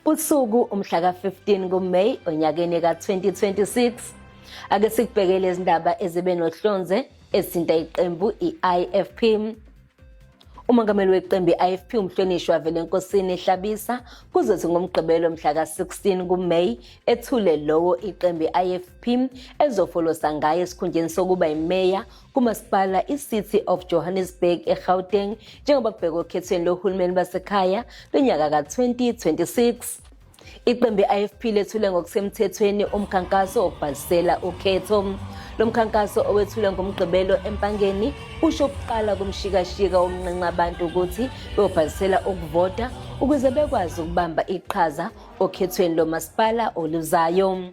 usuku umhla ka-15 kuMay onyakeni ka-2026 ake sikubhekele izindaba ezibe nohlonze ezinta iqembu i-IFP Umongameli weqembu i-IFP umhlonishwa Velenkosini Hlabisa kuzothi ngomgqibelo mhla ka-16 kuMay ethule lowo iqembu i-IFP ezofolosa ngaye esikhundleni sokuba yimeya kumasipala i-City of Johannesburg eGauteng njengoba kubhekwa okhethweni lohulumeni basekhaya lonyaka ka-2026. Iqembu i-IFP lethule ngokusemthethweni umkhankaso wokubhalisela ukhetho. Lo mkhankaso owethulwe ngoMgqibelo eMpangeni usho ukuqala kumshikashika womnqenqa abantu ukuthi beyobhalisela ukuvota ukuze bekwazi ukubamba iqhaza okhethweni lomasipala oluzayo.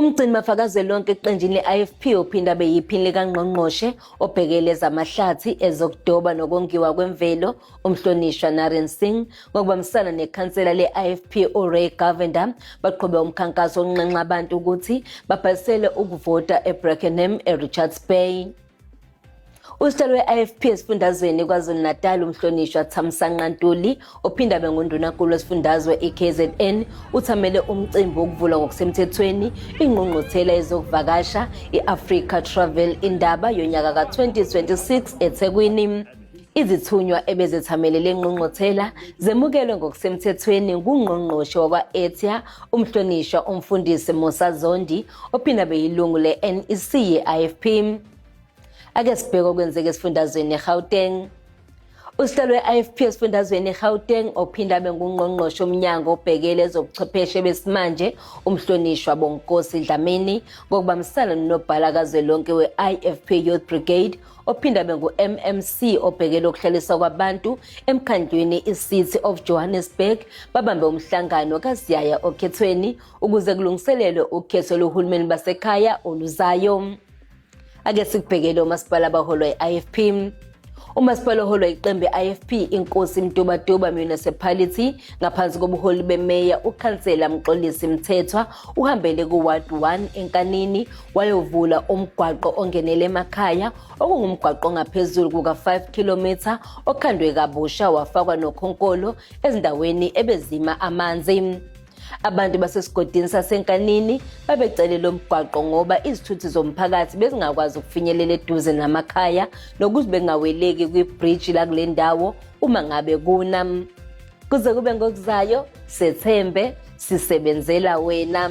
Umgcini mafakazwelonke eqenjini le-IFP ophinde abe yiphini likangqongqoshe obhekele ezamahlathi ezokudoba nokongiwa kwemvelo umhlonishwa Naren Singh ngokubambisana nekhansela le-IFP uRay Govender baqhube umkhankaso onxenxa abantu ukuthi babhalisele ukuvota eBrackenham eRichards Bay. Usihlalo we-IFP esifundazweni KwaZulu-Natal uMhlonishwa Thamsanqa Ntuli ophinde abe ngundunankulu wesifundazwe iKZN uthamele umcimbi wokuvulwa ngokusemthethweni ingqungquthela yezokuvakasha i-Africa Travel Indaba yonyaka ka-2026 eThekwini. Izithunywa ebezethamele le ngqungquthela zemukelwe ngokusemthethweni ngungqongqoshe wakwa-Etya umhlonishwa umfundisi Musa Zondi ophinde abe yilungu le-NEC ye-IFP. Ake sibheke okwenzeka esifundazweni eGauteng. Usihlalo we-IFP esifundazweni eGauteng ophinda abe ngungqongqoshe omnyango obhekele ezobuchwepheshe besimanje umhlonishwa Bonkosi Dlamini ngokubambisana nonobhala kazwelonke we-IFP Youth Brigade ophinda abe ngu-MMC obhekele ukuhlaliswa kwabantu emkhandlwini i-City of Johannesburg babambe umhlangano kaSiyaya okhethweni ukuze kulungiselelwe ukhetho lohulumeni basekhaya oluzayo. Ake sikubhekele omasipala abaholwa i-IFP. Umasipala oholwa iqembu i-IFP inkosi Mtubatuba Municipality ngaphansi kobuholi bemeya ukhansela Mxolisi Mthethwa uhambele ku-ward 1 enkanini wayovula umgwaqo ongenele emakhaya okungumgwaqo ongaphezulu kuka-5 km okhandwe kabusha wafakwa nokhonkolo ezindaweni ebezima amanzi. Abantu basesigodini saseNkanini babecele lo mgwaqo ngoba izithuthi zomphakathi bezingakwazi ukufinyelela eduze namakhaya nokuthi bengaweleki kwibhriji lakule ndawo uma ngabe kuna. Kuze kube ngokuzayo, sethembe sisebenzela wena.